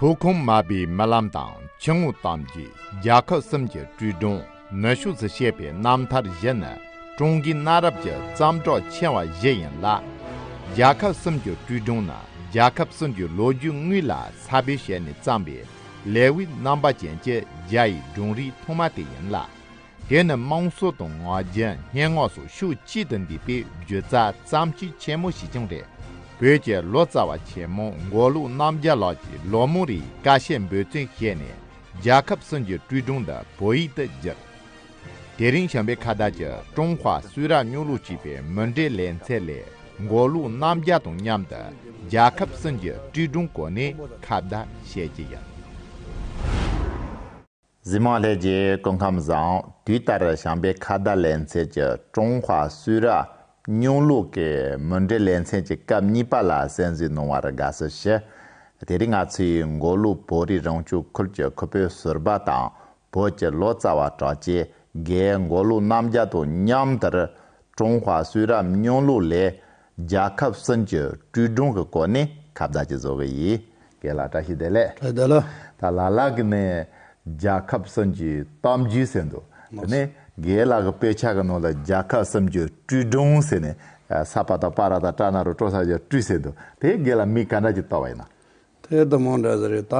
དུ་ཁུངས་མ་པའི་རྨི་ལམ་དང་ཕྱི་དངོས་གཏམ་གྱིས་རྒྱལ་ཁབ་གསུམ་གྱི་དྲིལ་སྒྲོན་ནུས་ཤུགས་སུ་བྱས་པའི་རྣམ་ཐར་བཞི་ནི་ཀྲུང་གོའི་གནའ་རབས་ཀྱི་བརྩམས་སྒྲུང་ཆེ་བ་བཞི་ཡིན་ལ། རྒྱལ་ཁབ་གསུམ་གྱི་དྲིལ་སྒྲོན་ནི་རྒྱལ་ཁབ་གསུམ་གྱི་ལོ་རྒྱུས་དངོས་ལ་ས་བོན་བྱས་ནས་བརྩམས་པའི་ལེའུའི་རྣམ་པ་ཅན་གྱི་རྒྱ་ཡི་སྒྲུང་རིགས་ཐོག་མ་དེ་ཡིན་ལ། དེ་ནི་དམངས་སྲོལ་དང་ང་རྒྱལ་སྙན་ངག་སོགས་ཤུགས་གཅིག་ཏུ་འདུས་པའི་བརྗོད་བྱ་བརྩམས་ཆོས་ཆེན་མོ་ཞིག་ཀྱང་རེད། བོད་ཀྱི་ལོ་ཙཱ་བ་ཆེན་མོ་མགོ་ལུག་རྣམ་རྒྱལ་ལགས་ཀྱིས་ལོ་མོ་རེའི་ཀ་ཤས་འབོད་བརྩོན་བྱས་ནས་རྒྱལ་ཁབ་གསུམ་གྱི་སྤྲུལ་སྒྲུང་འདི་བོད་ཡིག་ཏུ་བསྒྱུར། དེ་རིང་བྱམས་པའི་ཁ་བརྡ་གྱི་ཀྲུང་ཧྭ་སུས་ར་སྨྱུག་ལུགས་ཅེས་པའི་མུ་འབྲེལ་ལེ་ཚན་ལས་མགོ་ལུག་རྣམ་རྒྱལ་དང་མཉམ་དུ་རྒྱལ་ཁབ་གསུམ་གྱི་སྤྲུལ་སྒྲུང་སྐོར་ནས་ཁ་བརྡ་བྱེད་ཀྱི་ཡིན། གཟིགས་མོ་ལྷས་རྗེ་སྐུ་ཁམས་བཟང་དུས་ལྟར་བྱམས་པའི་ཁ་བརྡ་ལེ་ཚན་གྱི་ཀྲུང་ཧྭ་སུའུ་ར་སྙུང་ལུགས་ཀྱི་མུ་འབྲེལ་ལེ་ཚན་གྱི་སྐབས་གཉིས་པ་ལ་གསན་གཟིགས་གནང་བར་དགའ་བསུ་ཞུ། དེ་རིང་ང་ཚོས་མགོ་ལུག་བོད་རིགས་རང་སྐྱོང་ཁུལ་གྱི་ཁུལ་བོད་ཟུར་པ་དང་བོད་ཀྱི་ལོ་ཙཱ་བ་གྲགས་ཅན་དགེའི་མགོ་ལུག་རྣམ་རྒྱལ་དང་མཉམ་དུ་ཀྲུང་ཧྭ་སུའུ་ར་སྙུང་ལུགས་ལས་རྒྱལ་ཁབ་གསུམ་གྱི་བཀྲུས་སྒྲུང་གི་སྐོར་ནི་ཁ་བརྡ་གྱིས་བཟོ་གི་ཡིན། དགེ་ལགས་བཀྲ་ཤིས་བདེ་ལེགས། བཀྲ་ཤིས་བདེ་ལེགས། ད་ལ་ལགས་ཀྱི་ནས་རྒྱལ་ཁབ་གསུམ་གྱི་གཏམ་རྒྱུད་ཟེར་འདུག་དེ་ནས་དགེ་ལགས་ཀྱི་དཔེ་ཆ་གི་ནང་ལ་རྒྱལ་ཁབ་གསུམ་གྱི་བཀྲུས་སྒྲུང་ཟེར་ནས་ས་པ་དང་པ་ར་དང་ཀྲ་ན་རུ་ཀྲོ་ས་ཇོ་བཀྲུས་ཟེར་འདུག་དེ་དགེ་ལགས་མིག་ག་འདྲ་གྱིས་བལྟ་བ་ཡིན་ནམ། ཐེ་དུ་མོ་འདྲ་ཟེར་རེ་ད།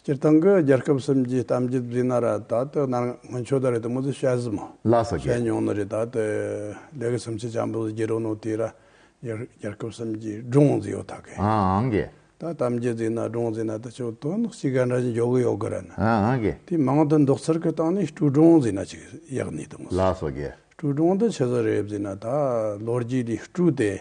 སྤྱིར་བཏང་གི་རྒྱལ་ཁབ་གསུམ་གྱི་གཏམ་རྒྱུད་བརྫིས་ན་ར་ད་ལྟོས་ནར་སྔོན་ཆོས་དར་རེ་དུ་མོ་ཚོས་བཤད་ཟིན་མོ། ལ་སོ་བཤད་རྒྱལ། མྱོང་ནི་རེ་ད་ལྟོས་ལས་ཀི་སུམ་ཆི་ཆམ་པོ་ཟེར་རྒྱུ་རུ་ནོ་དེ་ར་རྒྱལ་ཁབ་གསུམ་གྱི་སྒྲུང་བརྫིས་ཡོ་ད་གི། ཨང་གི། ད་གཏམ་རྒྱུད་བརྫིས་ན་སྒྲུང་བརྫིས་ན་ད་ཆོས་དོན་ནག་ཅིག་ག་འདྲ་ཞིག་འཇོག་གི་ཡོ་གི་ར་ན། ཨང་གི། དེ་མང་དུ་འདོག་ཚར་གི་སྟངས་ནི་སྤྲུལ་སྒྲུང་བརྫིས་ན་ཅིག་ཡག་ནི་དུ་མོ་ལ་ཟེར། སོ་བརྒྱལ། སྤྲུལ་སྒྲུང་འདི་ཆི་ཟེར་རེ་བརྫིས་ན་ད་ལོ་རྒྱུས་འདི་སྤྲུལ་ཏེ།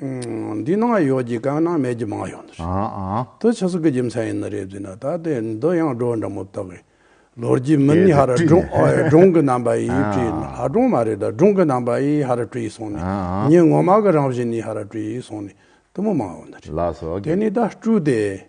འདི་ནང་ཡོད་ཀྱི་དཀའ་ན་མེད་ཀྱི་མང་ཡོད་འདུག་དུ་ཆུ་ཟུག་གི་རྒྱུ་མཚན་ཡིན་ན་རེད་འདུག་ད་ལྟའི་འདི་ཡང་སྒྲོ་འདྲ་མོ་བཏགས་ཀྱི་ལོ་རྒྱུས་མི་ནི་ཧར་སྒྲུང་གི་རྣམ་པ་ཡིས་བྲིས་ནི་ཧར་སྒྲུང་མ་རེད་ད་སྒྲུང་གི་རྣམ་པ་ཡིས་ཧར་བྲིས་སོང་ནས་ཉིན་ངོ་མ་གི་རང་བཞིན་ནས་ཧར་བྲིས་སོང་ནས་དུ་མོ་མང་ཡོད་འདུག་དེ་ནི་ད་སྤྲུལ་ཏེ།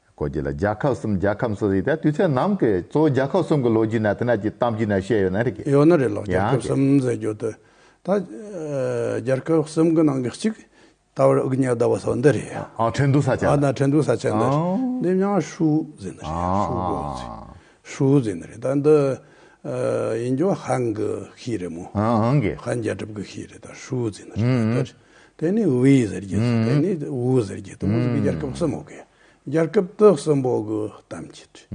སྐོར་རྒྱུ་ལ་རྒྱལ་ཁབ་གསུམ་རྒྱལ་ཁམས་སུ་ཟེར་ཏེ་དུས་ཚོད་ནམ་གྱི་གཙོ་བོ་རྒྱལ་ཁབ་གསུམ་གྱི་ལོ་རྒྱུས་ནང་དེ་ནས་ཀྱི་གཏམ་རྒྱུད་ནང་བཤད་ཡོད་ན་རེད་ཀྱི། ཡོད་ན་རེད་ལགས་རྒྱལ་ཁབ་གསུམ་ཟེར་རྒྱུ་དེ་ད་རྒྱལ་ཁབ་གསུམ་གྱི་ནང་གི་གཅིག་ད་བར་དབུ་བརྙེས་ཟླ་བ་སོགས་འདི་རེད་ཡ། ཨ་ཁྲེན་ཏུའུ་ས་ཆ་ཨ་ན་ཁྲེན་ཏུའུ་ས་ཆ་འདི་རེད་འདི་མྱང་ཧྲུའུ་ཟེར་ནི་རེད་ཧྲུའུ་ཟེར་ནི་རེད་ད་འདི་ཡིན་རྒྱུ་ཧན་གྱི་ཤིས་རེད་མོ་ཧན་རྒྱལ་ཁབ་ཀྱི་ཤིས་རེད་ད་ཧྲུའུ་ཟེར་ནི་རེད་ད་དེ་ནི་ཝུའུ་ཡི་ཟེར་གྱི་དེ་ནི་ཝུའུ་ཟེར་གྱི་དུ་མ་ཟེར་གྱི་རྒྱལ་ཁབ་གསུམ་མོ་གི་རྒྱལ་ཁབ་སྟོད་གསུམ་པོ་གི་གཏམ་གྱི་དུས་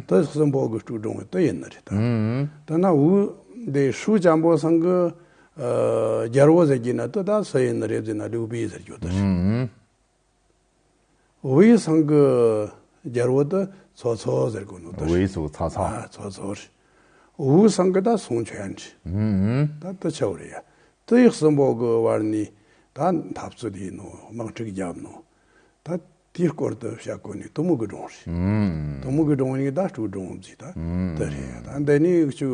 སྟོད་གསུམ་པོ་གི་ཀྲུའུ་ཀྲུང་བའི་སྟོད་ཡིན་ནི་རེད་ད་དེ་ན་ཝུའུ་དེ་ཧྲུའུ་ཅང་པོ་སང་གི་རྒྱལ་བོ་ཟེར་གྱི་ན་དུ་ད་སུ་ཡིན་ནི་རེད་ཟེར་ན་ལིའུ་པི་ཡི་ཟེར་གྱི་དུ་རེད། ཝུའེ་ཚང་གི་རྒྱལ་པོ་དེ་ཚོགས་ཚོགས་ཟེར་དགོས་ནོ་ད། ཝུའེ་ཚོགས་ཚོགས་ཚོགས། ཚོགས་ཚོགས་རེད། ཝུའུ་ཚང་གི་ད་སུང་ཆོན་རེད། ད་དེ་ཆོག་རེད་ཡ། ཏི་ཡིག་གསུམ་པོ་གི་བར་ནས་ད་འཐབ་རྩོད་དེ་ཡིན་ནོ་དམག་འཁྲུག་བརྒྱབ་ནོ། ད་དེའི་སྐོར་དུ་བཤད་དགོས་ནི་ཏུ་མུ་གུ་སྒྲོང་རེད། ཏུ་མུ་གུ་སྒྲོང་ཡིན་གི་ད་ཀྲུའུ་སྒྲོང་རྫིས་ད་དེ་རེད་ཡ། ད་འདི་ནས་ཀྱི་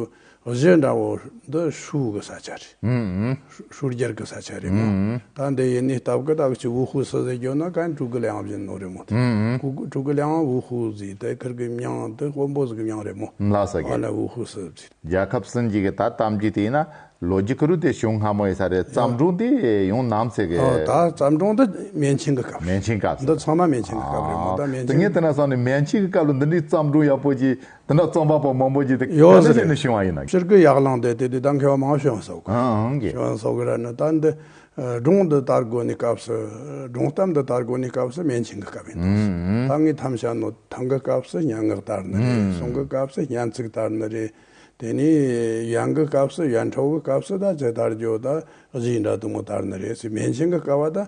བཟོས་འདྲ་བོ་འདི་ཧྲུའུ་གི་ས་ཆ་རེད། ཧྲུའུ་རྒྱལ་གྱི་ས་ཆ་རེད་མོད། ད་འདི་ཡིན་ནས་སྟབས་ཀི་ཏག་ཅིག་ཝུ་ཧུའུ་སོ་ཟེར་གྱོན་ན་གན་ཀྲུག་གི་གླེང་བཞིན་ནོ་རེད་མོད། ཀྲུག་གི་གླེང་ཝུ་ཧུའུ་ཟེར་ཏེ་ཁིར་གི་མྱང་དེ་ཧོ་འབོ་ཟི་གི་མྱང་རེད་མོད། ལྷ་ས་གི། ཨ་ལ་ཝུ་ཧུའུ་སོ་ཟེར། རྒྱལ་ཁབ་ཟིན་གྱི་གི་ད་གཏམ་གྱི་དེ་ཡིན་ན་ལོ་རྒྱུས་ཁུ་རུ་དེ་བྱུང་སྔ་མོ་ཡི་ས་རེད་བརྩམས་སྒྲུང་དེ་ཡོང་ནམ་ཟེར་གི། ད་བརྩམས་སྒྲུང་འདི་མན་ཆིང་གི་སྐབས་རེད། མན་ཆིང་སྐབས་ཟེར། འདི་ཚང་མ་མན་ཆིང་གི་སྐབས་རེད་མོད་ད་མན་ཆིང། ད་ངས་དེ་ན་བསམ་ནས་མན་ཆིང་གི་སྐབས་ལ་འདི་འདྲའི་བརྩམས་སྒྲུང་ཡག་པོ་ཅིག་དེ་འདྲ་རྩོམ་པ་པོ་མང་པོ་བརྒྱུད་དེ་ག་འདྲ་བྱས་ནས་བྱུང་བ་ཡིན། སྤྱིར་སྐད་ཡག་ལང་དེ་དེ་དུས་ད་མཁས་པ་མང་བོ་བྱོན་སོག་བྱོན་སོག་ར་ནི་ད་འདི་སྒྲུང་འདི་དར་གོ་ནི་སྐབས་སུ་སྒྲུང་གཏམ་འདི་དར་གོ་ནི་སྐབས་སུ་མན་ཆིང་གི་སྐབས་ཡིན་ཏོགས་ད་ངའི་ཐམས་ཞྭ་ནོ་ཐང་གི་སྐབས་སུ་སྙན་ངག་དར་ནི་རེད་གསུང་གི་སྐབས་སུ་སྙན་ཚིག་དར་ནི་རེད་དེ་ནས་ཡན་གི་སྐབས་སུ་ཡན་འཕྲོག་གི་སྐབས་སུ་ད་ཚེ་དར་རྒྱོ་ད་གཟིགས་འདྲ་དུ་མོ་དར་ནི་རེད་སི་མན་ཆིང་གི་སྐབས་བ་ད།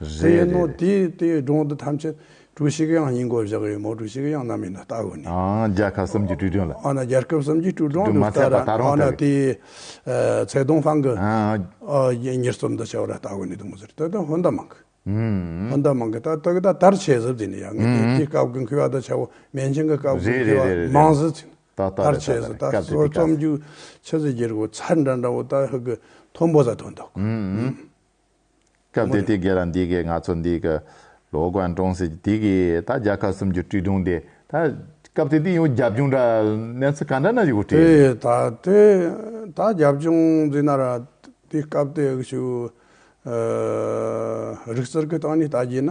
རེད། ཡིན་ནོ། དེ་དེའི་སྒྲུང་དེ་ཐམས་ཅད་ཀྲུའུ་ཞི་ཀེ་དབྱང་ཡིན་སྐོར་བཞག་ཡོད་མོད་ཀྲུའུ་ཞི་ཀེ་དབྱང་ནམ་ཡིན་ན་ལྟ་གི་མེད། ཨང། རྒྱལ་ཁབ་གསུམ་གྱི་ཀྲུའུ་སྒྲོན་ལ། ཨང། རྒྱལ་ཁབ་གསུམ་གྱི་ཀྲུའུ་སྒྲོན་ལུགས་ལྟར་ར་ཨང། དེ། ཚེ་གདོང་ཧྥང་གི། ཨང། ཉེར་གསུམ་དུ་བྱ་བ་ར་ལྟ་གི་མེད་འདུག་མི་ཟེར་ཏོ་ཏོ་ཧོན་ད་མང་གི། ཧོན་ད་མང་གི་ད་ཏོ་གི་ད་དར་ཆས་ཟིབ་ཟིན་ནི་ཡ་ངའི་དེ་དེའི་སྐབས་ཀྱི་འཁུལ་བ་དང་བྱ་བ་མན་ཆིང་གི་སྐབས་ཀྱི་འཁུལ་བ་མང་ཟིན་ཟིན། དར་ཆས་ཟིན་ད་གསོ་རྩོམ་རྒྱུ་ཆ་ཟིན་རྒྱུར་གོ་ཚར་འདྲ་འདྲ་བོ་ད་ཧི་གི་མཐོན་པོ་ཟ་ཐོན་འདུག། སྐབས་དེ་དུས་སྒེར་རམ་སྡེ་དགེ་ང་ཚོ་འདི་གི་ལོ་དགོན་གྲོང་གསེབ་ཀྱི་དེ་གའི་ད་རྒྱལ་ཁབ་གསུམ་གྱི་བཀྲིས་སྒྲུང་དེ་ད་སྐབས་དེ་དུས་ཡང་རྒྱབ་ལྗོངས་འདྲ་གནས་ཚུལ་ག་འདྲ་ན་ཡོད་དགོས་དྲན། དེ་ད་དེ་ད་རྒྱབ་ལྗོངས་འདི་ན་ར་དེ་སྐབས་དེ་གི་ཆུ་རིག་རྩལ་གྱི་སྟངས་ནས་ད་རྒྱས་ན།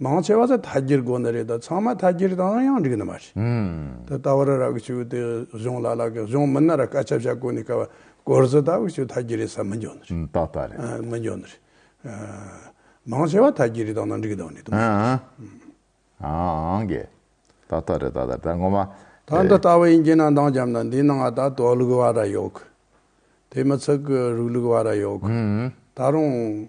མང་ཆེ་བ་ཚོ་དག་སྒྱུར་དགོས་ནི་རེད་ད་ཚང་མ་དག་སྒྱུར་དང་ཡང་འགྲིག་ནི་མ་རེད། ད་ལྟ་བར་ར་གི་ཆུ་དེ་གཞུང་ལ་ལ་གི་གཞུང་མི་སྣ་ར་སྐད་ཆ་བཤད་དགོས་ནི་དཀའ་བ་སྐོར་ཚོ་ད་བར་ཆུ་དག་སྒྱུར་རེད་ས་མི་འཇོག་ནི་རེད། ད་ལྟ་རེད། མི་འཇོག་ནི་རེད། མང་ཆེ་བ་དག་སྒྱུར་དང་ན་འགྲིག་དང་ནི་དུ་མ་རེད། གི། ད་ལྟ་རེད་ད་ལྟ་དྲ་ངོ་མ། ད་འདི་ལྟ་བུ་ཡིན་གྱི་ན་འདང་རྒྱབ་ན་འདི་ན་ང་ད་དོག་ལུག་བ་ར་ཡོག་གི། དེ་མི་ཚིག་གི་རུག་ལུག་བ་ར་ཡོག་གི། ད་རུང།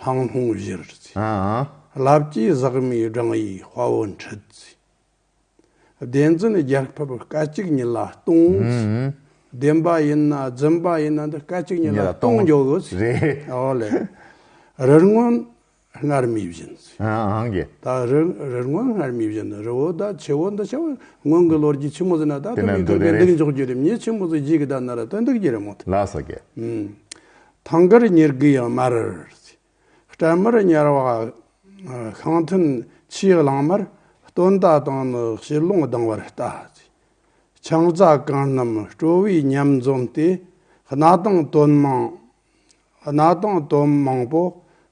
ལྷང་ལྷུང་གཞིར་བརྩི། རླབས་ཀྱི་ཟག་མེད་བགྲང་ཡས་དཔའ་བོ་འཁྲིད་བརྩི། བདེན་རྫུན་རྒྱལ་ཕབ་སྐད་ཅིག་ཉིད་ལ་སྟོང་བརྩི། བདེན་པ་ཡིན་ན་རྫུན་པ་ཡིན་ན་འདི་སྐད་ཅིག་ཉིད་ལ་སྟོང་འཇོག་བརྩི། ཨོ་ལེ། རི་སྔོན་སྔར་མུས་བཞིན་བརྩི། ད་རི་སྔོན་སྔར་མུས་བཞིན་ནི་རི་བོ་ད་ཆེ་བོ་འདི་ཆེ་བོ་སྔོན་གྱི་ལོ་རྒྱུས་ཆེན་མོ་ཟེར་ན་ད་དུ་མི་དགོས་པས་འདུག་འཇོག་རྒྱུ་རེད་མྱི་ཆེན་མོ་ཟེར་གཞིས་ཀྱི་ད་ནི་ར་ད་འདུག་རྒྱུ་རེད་མོད། ཐང་གར་ཉེར་དགུ་ཡང་མར། སྤྲལ་མར་དམྱལ་བ་ཤིང་ཐུན་ཆེའི་གླང་མར་སྟོན་རྟ་དང་ནི་བྱི་ལོང་ལྡང་བར་བལྟ། ཆང་རྩ་གང་རྣམས་སྤྲོ་བས་ཉམས་འཛོམས་ཏེ། སྣ་དང་དོན་མང་སྣ་དང་དོན་མང་པོ་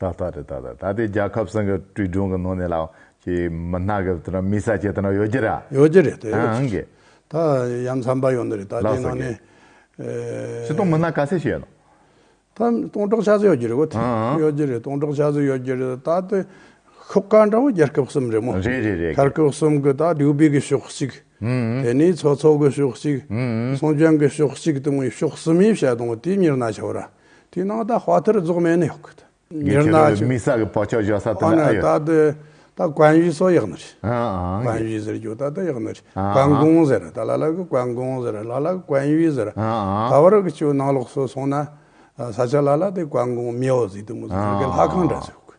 ད་ལྟ་དེ་ལྟ་ད་ལྟ་དེ་རྒྱལ་ཁབ་སེང་གེ་དྲུད་སྒྲུང་གི་ནང་ནས་ལ་ཀྱི་མི་སྣ་གི་དེ་ན་མི་ས་ཆེ་དེ་ན་ཡོད་ཀྱི་ར་ཡོད་ཀྱི་རེད་ད་ཨང་གི། ད་ཡ་མཚམས་པ་ཡོད་ནི་རེད་ད་དེ་ནང་ནས། སི་སྟོང་མི་སྣ་ག་ཚད་ཞིག་ཡོད་ནོ། ད་སྟོང་ཕྲག་ཆ་ཚད་ཡོད་ཀྱི་རེད་གོ་ཐི་ཡོད་ཀྱི་རེད་སྟོང་ཕྲག་ཆ་ཚད་ཡོད་ཀྱི་རེད་ད་དེ་ཤོག་ཁག་འདྲ་བོ་རྒྱལ་ཁབ་གསུམ་རེད་མོ། རེད་རེད་རེད་རྒྱལ་ཁབ་གསུམ་གི་ད་དྲུག་སྦིས་གི་ཤོག་གཅིག་དེ་ནས་ཚོགས་ཚོགས་གི་ཤོག་གཅིག་སྲུང་སྐྱོང་གི་ཤོག་གཅིག་དེ་མོ་ཤོག་གསུམ་ཡིན་བཤད་དང་དེ་གཉེར་ན་ཆོག་ར། དེའི་ནང་ད་བྷ་དྷར་རྫོགས་མེད་ནི་ཡོག་གི། ངས་ཁྱེད་རང་ལ་མིག་ཟག་གི་བག་ཆགས་བཞག་ས་དེ་འདྲ་ཨ་ཡོད། ཨ་ནི་ད་དེ་ད་གོན་བཞི་སོགས་ཡག་ནི་རེད། གོན་བཞི་ཟེར་རྒྱུ་ད་དེ་ཡག་ནི་རེད། གོན་གོང་ཟེར་ད་ལ་ལ་གི་གོན་གོང་ཟེར་ལ་ལ་གི་གོན་བཞི་ཟེར། ད་བར་གི་ཆུ་ནང་ལོགས་སུ་སོང་ན་ས་ཆ་ལ་ལ་དེ་གོན་གོང་མིའོ་ཟིག་དུ་མོ་ཟིག་ཟེར་གི་ལྷ་ཁང་འདྲ་ཟིག་ཡོག་གི།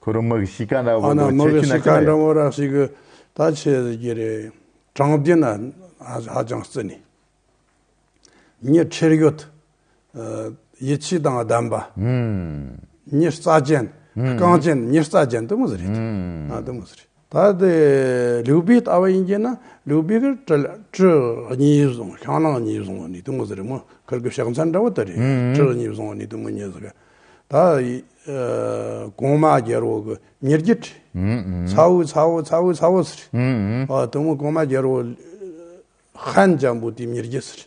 ཁོ་རང་མི་གི་གཤིས་ཀ་འདྲ་བོ་དང་ཁྱད་ཆོས་ན་ཅི་ན་ཡོད། ད་ཁྱེད་རང་གི་རེ་དྲང་བདེན་ན་ཧ་ཅང་བརྩི་ནས། མྱི་ཁྲེལ་ཡོད། ཡིད་ཆེས་དང་ལྡན་པ། མྱི་རྩ་ཅན། རྐང་ཅན་མྱི་རྩ་ཅན་དེ་མོ་ཟེར་རེད། དེ་མོ་ཟེར་རེད། ད་ལྟའི་ལིའུ་པེའི་ལྟ་བ་ཡིན་གྱི་ན་ལིའུ་པེ་ཁིར་ཀྲི་ཀྲི་གཉིས་བཟུང་ཤང་ནང་གཉིས་བཟུང་བ་ནི་དུས་མོ་ཟེར་རི་མོ་ཁིར་ཀི་ཤག་མཚན་འདྲ་བོ་དེ་རེད་ཀྲི་གཉིས་བཟུང་བ་ནི་དུས་མོ་ཉེས་ཟེར་ག་ད་གོང་མ་རྒྱལ་བོ་གི་ཉེར་བརྒྱད་ཁྲི་ཚ་བོའི་ཚ་བོ་ཚ་བོའི་ཚ་བོ་ཟེར་རི་དུས་མོ་གོང་མ་རྒྱལ་བོ་ཧན་ལྗང་བུ་དེའི་ཉེར་བརྒྱད་ཟེར་རི་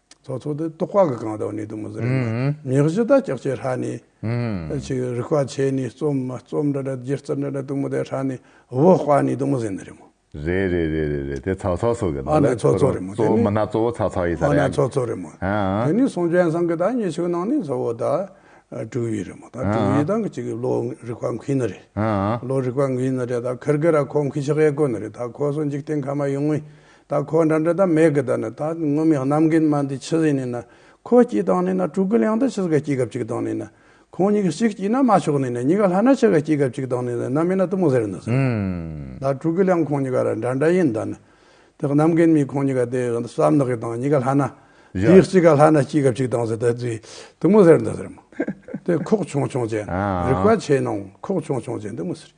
ཚོགས་ཚོགས་ཏེ་རྟོག་པ་གི་གང་དག་ནི་དུ་མ་ཟེར་བ་ན་མྱི་བཞི་དག་ཅག་ཅེས་ཧྲཱི་ནི། ཅིག་རིག་པ་ཆེ་ནི་རྩོམ་མ་རྩོམ་འདྲ་འདྲ་སྒྱུ་རྩལ་འདྲ་འདྲ་དུ་མ་དེ་ཧྲཱི་ནི་བྷོ་དཔའ་ནི་དུ་མ་ཟེར་ནི་རེ་མོ། རེ་རེ་རེ་རེ་རེ་དེ་ཚོགས་ཚོགས་སོགས་ཀྱི་ནང་ལས་ཚོགས་ཚོགས་རེ་མོ་དེ་ནི་མི་སྣ་གཙོ་བོ་ཚོགས་ཚོགས་ཡིན་ས་རེད་ཨ། ཚོགས་ཚོགས་རེ་མོ་དེ་ནི་སངས་རྒྱས་བཟང་གི་དག་ཉེས་ཆོས་ནང་ནི་གཙོ་བོ་དག་དྲུག་ཡོད་རེ་མོ་ད་དྲུག་ཡོད་དང་གི་ཅིག་གི་བློ་རིག་པ་མཁིན་ནི་རེ་བློ་རིག་པ་མཁིན་ནི་རེ་ད་ཁིར་གི་ར་ཁོ་མཁིན་ཤག་ཡེ་ཀོ་ནི་རེ་ད་ཁོ་སོ་འཇིག་རྟེན་ཁ་མ་ཡོང་ངོ་ད་ཁོ་འདྲ་འདྲ་ད་མེད་གི་ད་ནི་ད་ངུ་མི་རྣམ་རྒན་མ་འདི་ཆི་ཟིག་ནི་ན་ཁོ་སྐྱིད་དང་ནི་ན་ཕྲུ་གུ་ལིང་འདི་ཆི་ཟིག་ག་སྐྱིད་གབ་ཅིག་དང་ནི་ན་ཁོང་གཉིས་ཀ་ཅིག་སྐྱིད་ན་མ་ཆོག་ནི་ན་གཉིས་ཀ་ལྷ་ན་ཆི་ག་སྐྱིད་གབ་ཅིག་དང་ནི་ན་ནམ་མི་ན་གཏུམ་མོ་ཟེར་འདི་ཟེར་ད་ཕྲུ་གུ་ལིང་ཁོང་གཉིས་ཀ་ར་འདྲ་འདྲ་ཡིན་ད་ནི་དེ་རྣམ་རྒན་མི་ཁོང་གཉིས་ཀ་དེ་ཟམ་ནག་གི་དང་གཉིས་ཀ་ལྷ་ན་དེའི་སྐྱིད་ག་ལྷ་ན་སྐྱིད་གབ་ཅིག་དང་ཟེར་ད་དེ་གཏུམ་མོ་ཟེར་འདི་ཟེར་མོ་དེ་ཁོག་ཆུང་ཆུང་ཅན་རིག་པ་ཆེ་ནང་ཁོག་ཆུང་ཆུང་ཅན་འདི་མི་ཟེར།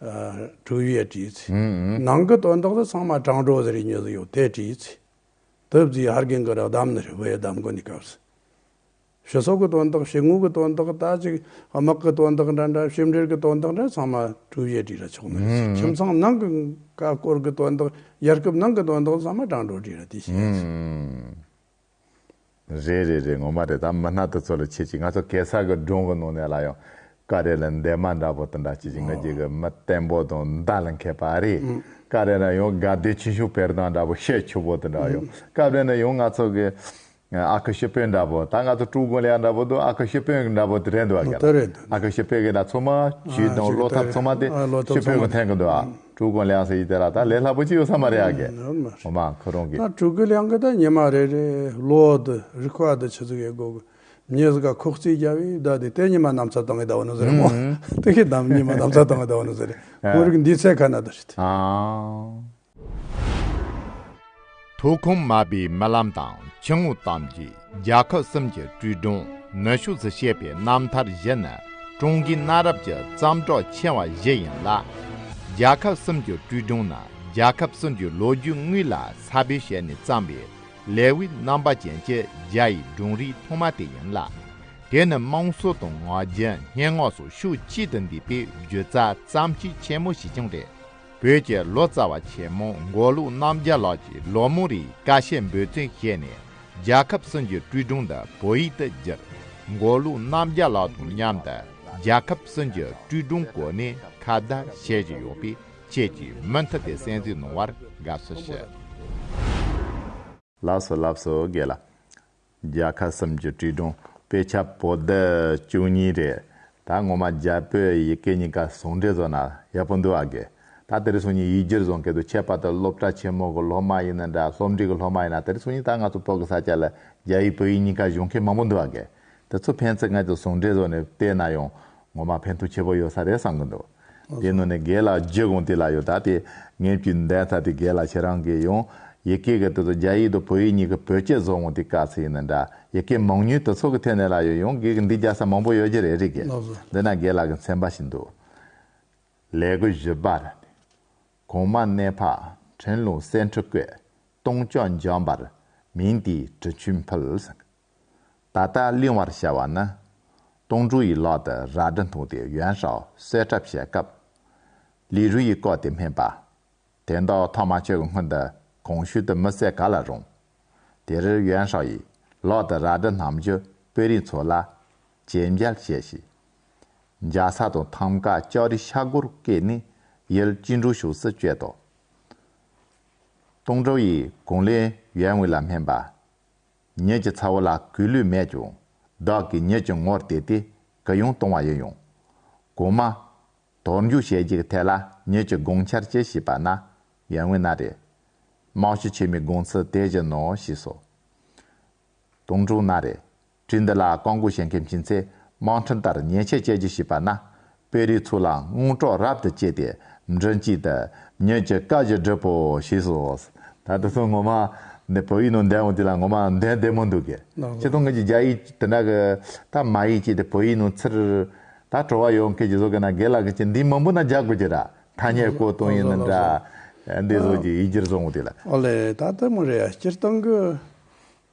གྲུབ་ཡས་བྲིས། ནང་གི་དོན་དག་དེ་ཚང་མ་སྤྲང་གྲོགས་ཟེར་ཉོས་སུ་ཡོད་དེ་བྲིས། དེབ་རྩིས་ཧར་གིང་གི་རགས་བསྡམས་ནི་རི་བོའི་གདམས་མགོ་ནས་བཀབས། ཞི་སོགས་ཀྱི་དོན་དག་ཞི་དངོས་ཀྱི་དོན་དག་དག་ཅིག་དམག་གི་དོན་དག་འདྲ་འདྲ་ཞིབ་འགྲེལ་གྱི་དོན་དག་འདྲ་ཚང་མ་གྲུབ་ཡས་བྲིས་ལ་ཆོག་མི་རིགས་ཀྱི་ཁྱིམ་ཚང་ནང་གི་ཀ་ཀོར་གྱི་དོན་དག་རྒྱལ་ཁབ་ནང་གི་དོན་དག་ཚང་མ་སྤྲང་གྲོགས་བྲིས་ལ་དེ་བྱས། རེད་རེད་རེད་ངོ་མ་རེད་ད་མི་སྣ་དེ་ཚོ་ལ་ཁྱེད་ཀྱིས་ང་ཚོ་གེ་སར་གི་སྒྲུང་གི་ནང་ནས་ལ་ཡང་ཀ་རེ་ལ་འདས་མ་འདྲ་པོ་དང་འདྲ་ཁྱེད་ཀྱིས་ང་རྒྱལ་གི་མི་བརྟན་པོ་དང་མདའ་ལ་མཁས་པ་རེད་ཀ་རེ་ན་ཡང་དགའ་བདེ་ཆེ་ཆུང་བེར་དང་འདྲ་པོ་ཤས་ཆུ་བོ་དང་འདྲ་ཡང་སྐབས་རེ་ན་ཡང་ང་ཚོ་གི་ཨ་ཁུ་ཤི་པོའི་འདྲ་པོ་ད་ང་ཚོ་ཀྲུའུ་གུང་ལེགས་འདྲ་པོ་དང་ཨ་ཁུ་ཤི་པོའི་འདྲ་པོ་དེ་རེད་འདུག་ག་ལ་ཨ་ཁུ་ཤི་པོའི་གི་ད་ཚོ་མ་ཇུས་དང་བློ་ཐབས་ཚང་མ་དེ་ཤི་པོའི་གི་འཐེན་གི་འདུག་ཨ། དྲུག་གོ་ལེའང་ཟེར་གྱི་དེ་ལ་ད་ལས་སླ་པོ་ཅི་ཡོད་ས་མ་རེད་ཨ་དགེ་འོ་མ་ཁོ་རང་གི། ད་དྲུག་གོ་ལེའང་གི་ད་ཉེ་མ་རེ་རེ་ལོ་དུ་རི་ཁ་དུ་ཆུ་ཚུགས་ཡས་སྒོ་གི་མྱེས་ཟི་ག་ཁོག་རྩིས་རྒྱ་བས་ད་དེ་ཏའི་ཉི་མ་ནམ་ཚ་དང་གི་ད་བ་ནི་ཟི་རེད་མོ་ཏའི་གི་དམ་ཉི་མ་ནམ་ཚ་དང་གི་ད་བ་ནི་ཟི་རེད་ཁོང་རིགས་འདིའི་ཚད་ཁ་ན་དུ་རེད། དུག་ཁུངས་མ་པའི་རྨི་ལམ་དང་ཁྱི་ངོ་གཏམ་གྱིས་རྒྱལ་ཁབ་གསུམ་གྱི་དྲིལ་སྒྲོན་ནུས་ཤུགས་སུ་བཤད་པའི་རྣམ་ཐར་བཞི་ནི་ཀྲུང་གོའི་གནའ་རབས་ཀྱི་བརྩམས་སྒྲུང་ཆེ་བ་བཞི་ཡིན་ལ། རྒྱལ་ཁབ་གསུམ་གྱི་དྲིལ་སྒྲོན་ནི་རྒྱལ་ཁབ་གསུམ་གྱི་ལོ་རྒྱུས་དངོས་ལ་ས་བོན་བྱས་ནས་བརྩམས་པའི་ལེ་དབྱི་རྣམ་པ་ཅན་གྱི་རྒྱ་ཡི་སྒྲུང་རིགས་ཐོག་མ་དེ་ཡིན་ལ། དེ་ནི་དམངས་སྲོལ་དང་ངག་རྒྱུན་སྙན་ངག་སོགས་ཤུགས་གཅིག་ཏུ་འདུས་པའི་བརྒྱུད་རྩ་བརྩམས་ཆོས་ཆེན་མོ་ཞིག་ཀྱང་རེད། བོད་ཀྱི་ལོ་ཙཱ་བ་ཆེན་མོ་མགོ་ལུག་རྣམ་རྒྱལ་ལགས་ཀྱིས་ལོ་མོ་རིའི་ཀ་ཤས་འབོད་ཚིག་བཤད་ནས་རྒྱལ་ཁབ་སྲིད་འགྱུར་སྤྲུལ་སྒྲུང་འདི་བོད་ཡིག་ཏུ་བསྒྱུར། མགོ་ལུག་རྣམ་རྒྱལ་ལགས་དང་མཉམ་དུ་རྒྱལ་ཁབ་སྲིད་འགྱུར་སྤྲུལ་སྒྲུང་གོ་གནས་ཁ་བརྡ་བྱེད་བཞིན་ཡོད་པས་ཁྱེད་ཀྱིས་མུ་མཐུད་དེ་གསན་གཟིགས་གནང་བར་དགའ་བསུ་ཞུ། ལགས་སོ་ལབ་སོ་དགེ་ལ། རྒྱལ་ཁ་གསུམ་གྱི་བྲིས་སྒྲུང་དཔེ་ཆ་པོ་ཏི་བཅུ་གཉིས་རེད། ད་ངོ་མ་རྒྱ་བོད་ཡི་གེ་གཉིས་ཀ་ཟུང་འབྲེལ་བཟོ་ན་ཡག་པོ་འདུག་ཨ་དགེ། ད་དེ་རིང་སང་ཉིན་ཡིག་སྒྱུར་བཟོ་མཁན་དུ་ཁྱད་པར་དུ་སློབ་གྲྭ་ཆེན་མོ་གི་སློབ་མ་ཡིན་ན་འདྲ་སློབ་འབྲིང་གི་སློབ་མ་ཡིན་ན་དེ་རིང་སང་ཉིན་ད་ང་ཚོ་བོད་ཀྱི་ས་སྐྱ་ལ་རྒྱ་ཡིག་བོད་ཡིག་གཉིས་ཀ་གཞུང་མཁན་མང་པོ་འདུག་ཨ་དགེ། དེ་ཚོ་ཕན་ཚེ་ང་ཚོས་ཟུང་འབྲེལ་བཟོ་ནས་སྤེལ་ན་ཡང་ངོ་མ་ཕན་ཐོགས་ཆེ་པོ་ཡོད་ས་རེད་བསམ་གྱི་འདུག་དེ་ནོར་ནས་རྒས་ལ་རྗེ་དགོངས་དེ་ལ་ཡོད་ད་དེ་ངེད་ཀྱི་འདས་མཐའ་དེ་རྒས་ལ་ཁྱེད་རང་གི་ཡོང་ཡི་གེ་གི་དོད་དུ་རྒྱ་ཡིག་དང་བོད་ཡིག་གཉིས་ཀྱི་བོད་སྐད་བཟོ་འོང་དེ་ག་ཚོད་ཡིན་ན་འདྲ་ཡི་གེ་མང་ཉུལ་དུ་ཚོགས་ཀྱི་ཐད་ནས་ལ་ཡོད་ཡོང་གི་གི་འདི་རྒྱ་ས་མང་པོ་ཡོད་ཀྱི་རེད་རེད་གི་འདི་ན་རྒས་ལ་གི་མཚན་པ་ཞིག་འདུག་ལས་གོས་བཞི་པར་གོང་མ་གནས་འཕགས་ཕྲན་ལུང་གསེར་འཕྲུ་སྐོས་སྟོང་ལྕོག་འཇམ་པར་མིང་དེའི་གྲི་ཆུས་འཕུལ། ད་ལྟ་གླེང་བར་བྱ་བ་ནི། ཏུང་ཀྲུའུ་ཡི་ལག་ཏུ་རལ་གྲི་འཐུང་སྟེ་ཡོན་ཧྲའོ་གསོད་གྲབས་བྱེད་སྐབས། ལི་རུའུ་ཡིས་བཀག་སྟེ་སྨྲས་པ། དེ་མདོག་མཐོང་མ་ཁྱོད་ཀྱི་སྔུན་འདི་གོང་ཤུལ་དུ་མི་བསད་ག་ལ་རུང། དེ་རིར་ཡོན་ཧྲའོ་ཡིས་ལག་ཏུ་རལ་གྲི་བསྣམས་རྒྱུ་དཔོན་རིགས་ཚོ་ལ་གྱེན་འགྱེལ་བྱས་ཤིང། འཇའ་ས་དང་ཐམ་ག་ལྕགས་རིའི་ཤག་སྒོར་བཀལ་ནས་ཡུལ་གཅིག་འགྲུལ་ཞུགས་སུ་བསྐྱོད་དོ། ཏུང་ཀྲུའུ་ཡིས་གུང་ལེན་ཡོན་ཝུའུ་ལ་སྨྲས་པ། ཉིད་ཀྱི་ཚ་བོ་ལ་གུས་ལུས་མེད་ཀྱང། བདག་གིས་ཉིད་ཀྱི་ངོར་དེད་དེ་སྐུ་ཡང་གཏོང་བ་ཡིན་ཡང། གོང་མ། དོར་འཇུག་བྱེད་རྒྱུ་གི་ཐད་ལ་ཉིད་ཀྱི་དགོངས་འཆར་ཅི་ཞིག་པ་ན། ཡར་ངོས་ན་རེ། རྨང་གཞི་ཆེ་མའི་དགོངས་ཚུལ་དེ་བཞིན་ནོ་ཞེས་སོ། དོང་སྤྲུགས་ན་རེ། བྲིས་འདི་ལ་རྐང་འགུགས་བྱེད་མཁན་བྱིན་ཚེ་དམངས་ཁྲིམས་ལྟར་ཉེས་ཆད་བཅད་རྒྱུ་ཞིག་པ་ན། དཔེ་རིས་ཚུལ་ལའང་སྔོན་འགྲོ་རབ་ཏུ་བསྐྱེད་དེ་མགྲིན་གཅིག་ཏུ་ཉོན་ཅིག་བཀའ་བཞི་སྒྲུབ་པོ་ཞེས་སོ། ད་དེ་ཚོ་ངོ་མ་འདི་བོད་ཡིག་ནང་བདེན་འོ་དེ་ལ་ངོ་མ་བདེན་བདེན་མོ་འདུག་གི། ཆེ་མཐོང་ངེད་ཀྱི་རྒྱ་ཡིག་དེ་འདྲ་གི་ད་མ་ཡིག་ཅིག་དེ་བོད་ཡིག་ནང་ཚིར། ད་བྲོ་བ་ཡོང་མཁན་གྱི་བཟོ་མཁན་ན་དགེ་ལགས་ཀྱིས་འདིའི་མང་པོ་ན་རྒྱག་དགོས་ཀྱི་ར་ཐ་སྙད་བཀོད་གཏོང་ཡིན་ན་འདྲ། འདི་བཟོ་རྒྱུ་ཡིག་སྒྱུར་བཟོ་འོ་དེ་ལ། ཨོ་ལེ་ད་ལྟ་མོ་རེ་ཡ་སྐྱེར་གཏོང་གི།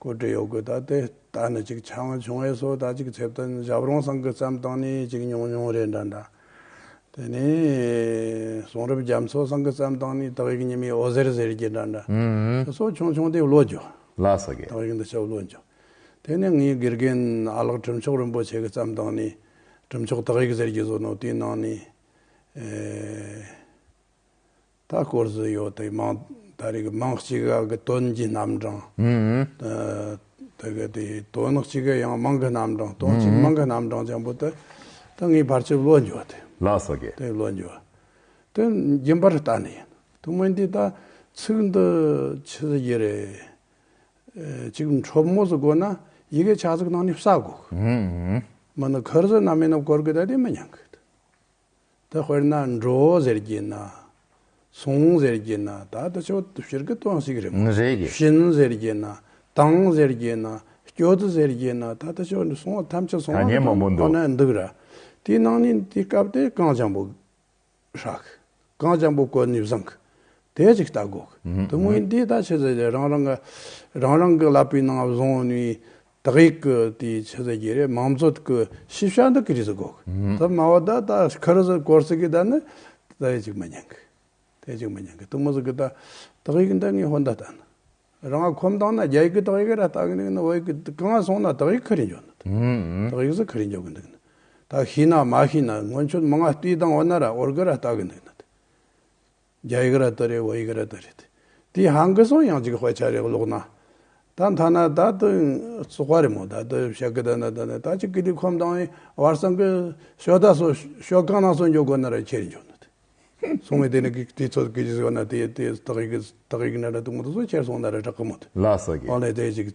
གོ་སྒྲིག་ཡོད་དགོས་ད་དེ་ལྟ་ནི་ཅིག་ཆ་ངོས་བྱུང་བས་སོ་ད་ཅིག་ཆེད་དོན་ཞབས་རོང་སང་གི་བརྩམས་སྟངས་ནི་ཅིག་ཉུང་ཉུང་རེད་འདྲ་འདྲ། དེ་ནས་གསུང་རབ་རྒྱ་མཚོ་སང་གི་བརྩམས་སྟངས་ནི་དག་ཡིག་ཉི་མའི་འོད་ཟེར་ཟེར་གྱི་འདྲ་འདྲ། དེ་སོགས་ཆུང་ཆུང་དེ་བློ་འགྱོ། ལ་ས་གས། དག་ཡིག་འདི་ཆ་བློ་འགྱོ། དེ་ནས་ངའི་དགེ་རྒན་ཨ་ལགས་གྲུབ་མཆོག་རིན་པོ་ཆེ་གི་བརྩམས་སྟངས་ནི་གྲུབ་མཆོག་དག་ཡིག་ཟེར་གྱི་བཟོ་ནོ་དེའི་ནང་ནི། ད་སྐོར་སུ་ཡོད་དེ་མང་ད་རེ་གི་མང་གཅིག་ག་གི་དོན་གྱི་རྣམ་གྲངས་ད་གི་དེ་དོན་གཅིག་གི་ཡང་མང་གི་རྣམ་གྲངས་དོན་གཅིག་མང་གི་རྣམ་གྲངས་ཆེན་པོ་དེ་ད་ངའི་བར་ཆད་བློ་འགྱོ་དེ་ལགས་སོ་གི། དེ་བློ་འགྱོ་དེ་རྒྱུན་པར་ལྟ་ནི་ཡིན་དུ་མི་འདི་ད་ཚིག་འདི་ཆི་ཟི་གྱི་རེ་གཅིག་འཕྲོ་མོ་སུ་དགོ་ན་ཡི་གེ་ཆ་ཚིག་ནང་ནས་བསག་དགོ་གི་མི་ནི་ཁུར་ཟི་ན་མི་ནི་བསྐོར་གི་ད་དེ་མི་ཉན་གི། དེ་དཔེར་ན་འགྲོ་ཟེར་གྱི་ན། སོང་ཟེར་གྱི་ན་ད་ལྟ་ཆོ་ཏོ་ཕྱིར་གི་ཏོ་ཟིག་རེད་མོ། ཕྱིན་ཟེར་གྱི་ན། དང་ཟེར་གྱི་ན། སྐྱོ་ཏོ་ཟེར་གྱི་ན་ད་ལྟ་ཆོ་ཏོ་སོང་བ་ཐམས་ཅད་སོང་བ་གི་དོན་ཁོ་ན་འདུག་ར། དེའི་ནང་ནས་དེ་སྐབས་དེ་རྐང་བྱང་བུ། ཧྲག། རྐང་བྱང་བུ་བཀོད་ནས་བཟང། དེ་ཅིག་ལྟ་དགོས། དོན་དངོས་འདི་ལྟ་ཆོས་ཟེར་ཏེ་རང་རང་གི། རང་རང་གི་ལག་པའི་ནང་བཟུང་ནས། དག་ཡིག་གི་དེའི་ཆེ་ས་གྱི་རེད་མང་གཙོ་གི་ཤེས་བྱ་འདི་གི་རིགས་སུ་གོ་གི་ད་མང་བོ་ད་ད་ཁ་རུ་སོང་གོར་སི་ཀི་ད་ནི་དེ་དག་ཅིག་མི་ཉན་གི་དེ་ཅིག་མི་ཉན་གི་དུ་མོ་སི་ཀི་ད་དག་ཡིག་འདི་ངའི་ཧོན་ད་ད་ནི་རང་ཁོམ་དང་ན་རྒྱ་ཡིག་གི་དག་ཡིག་ར་ལྟ་གི་འདུག་ན་བོད་ཡིག་གི་གང་སོང་ན་དག་ཡིག་ཁ་རི་འཇོག་འདུག་དག་ཡིག་སི་ཁ་རི་འཇོག་གི་འདུག་ན་ད་ཤི་ན་མ་ཤི་ན་སྔོན་ཆོད་མང་ང་ལྟོས་དང་བོ་ན་ར་ཨོར་གི་ར་ལྟ་གི་འདུག་ན་དེ། རྒྱ་ཡིག་ར་ཏི་རེད་བོད་ཡིག་ར་ཏི་རེད། དེའི་ཧང་གི་སོང་ཡང་ཅིག་དཔེ་ཆ་རེ་ཀློག་ན། ད་མཐའ་ན་ད་ཏི་སོ་ཀ་རེ་མོ་ད་ཏི་བཤད་ཀི་ད་ན་ད་ནི་ད་ཅིག་གི་དེ་ཁོམ་དང་ཡིན་བར་སང་གི་ཤོ་ད་སོ་ཤོ་གང་ན་སོ་འཇོག་དགོས་ན་ར་ཁྱེར་འཇོག་ན་དི། སོང་བའི་དེ་ནི་གི་དེ་ཚོ་གི་ཟེར་བ་ན་དེ་དེ་དག་ཡིག་དག་ཡིག་ན་ར་ཏི་མོ་ཏི་སོ་ཁྱེར་སོང་ན་ར་གྲག་གི་མོ་ཏི། ལ་སོ་གི། ཨོ་ལེ་དེ་ཅིག་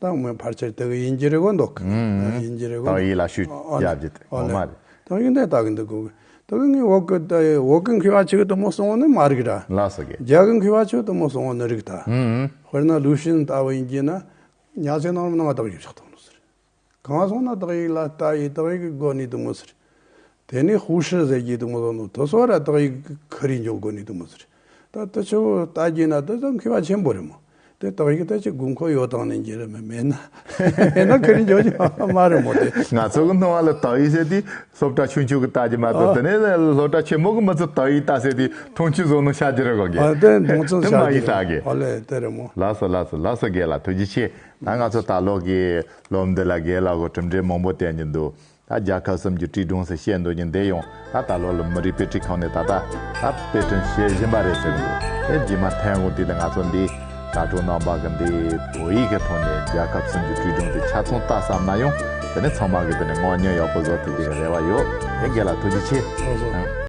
ཏང་མི་ཕར་ཆེར་དེ་ག་ཡིན་གྱི་རེད་གོ་འདོག་གི་ཡིན་གྱི་རེད་གོ་འདོག་ཏང་ཡིག་ལ་ཞུས་རྒྱབ་རྒྱུ་དེ་ངོ་མ་རེད། ཏང་ཡིག་འདི་ལྟ་གི་འདུག་གོ་ཏོ་གི་ངའི་འོག་གི་ཏའི་འོག་གི་མཁས་པ་ཆེ་གི་དུ་མོ་སོང་བ་ནི་མ་རིག་ར། ལ་སོ་གི། རྒྱ་གི་མཁས་པ་ཆེ་གི་དུ་མོ་སོང་བ་ནི་རིག་ད། དཔེར་ན་ལུའུ་ཤིན་ལྟ་བུ་ཡིན་གྱི་ན་ཉག་ཅིག་ནང་རུམ་ནང་བ་དག་ཡོད་ཆགས་འདུག་ནི་ཟེར། གང་སོང་ན་ཏག་ཡིག་ལ་ཏའི་ཏག་ཡིག་གི་སྒོ་ནས་དུ་མོ་ཟེར། དེ་ནི་ཧུའུ་ཧྲི་ཟེར་གྱི་འདུག་མོ་ཟོ་ནོ་ཏོ་སོ་ར་ཏག་ཡིག་གྷ་རི་འཇོག་དགོས་ནི་འདུག་མོ་ཟེར། ད་ལྟ་ཆུ་བོ་ལྟ་རྒྱུ་ན་དེ་ཙམ་མཁས་པ་ཆེན་པོ་རེད་མོ། དེ་ཏག་ཡིག་ལྟ་ཅི་དགོས་མཁོ་ཡོད་དང་ནི་འགྱེལ་རེ་མེད་མེད་ན་མེད་ན་གྷ་རི་འཇོག་རྒྱུ་མ་རེད་མོ་དེ། ང་ཚོ་གི་སྣང་བ་ལ་ཏག་ཡིག་ཟེར་དུས་སློབ་གྲྭ་ཆུང་ཆུང་གི་ལྟ་རྒྱུ་མ་གཏོགས་དེ་ནས་སློབ་གྲྭ་ཆེན་མོ་གི་མི་ཚོ་ཏག་ཡིག་ལྟ་ཟེར་དུས་ཐུང་ཆུ་བཟོ་ནོ་ཤ་རྒྱུ་རེ་གོ་དགོས། དེ་མདོང་ཚུལ་ཤ་རྒྱུ་རེ་མོ་ཨོ་ལེ་དེ་རེད་མོ། ལགས་སོ་ལགས་སོ་ལགས་སོ་དགེ་ལ་ཐུགས་རྗེ་ཆེ། ད་ང་ཚོ་ལྟ་ལོག་གིས་སློབ་འདི་ལ་དགེ་ལ་གོ་གྲུབ་འབྲས་མང་པོ་བསྟན་གྱི་འདུག་ད་རྒྱལ་ཁབ་གསུམ་གྱི་བཀྲིས་དྲུང་ཟེར་བཤད་འདོད་ཀྱི་འདས་ཡོང་ད་ད་ལོ་ལ་མི་རིགས་དཔེ་ཁྲིད་ཁང་ནས་ད་ད་ད་དཔེ་སྐྲུན་བྱེད་བཞིན་པ་རེད་ཟེར་གྱི་འདུག་དེ་རྗེས་མ་ཐན་གོང་དུས་ལ་ང་ཚོ་འདིའི་དྲ་གྲོགས་ནང་པ་གི་འདིའི་བོད་ཡིག་གི་ཐོག་ནས་རྒྱལ་ཁབ་གསུམ་གྱི་བཀྲིས་དྲུང་དེ་ཆ་ཚང་བལྟ་བསམ་ན་ཡང་དེ་ནི་ཚང་མ་གི་དེ་ནི་དངོས་བརྙན་ཡག་པོ་བཟོ་ཐུབ་རྒྱུ་གི་རེ་བ་ཡོད་དེ་འགེ་ལ་ཐུགས་རྗེ་ཆེ།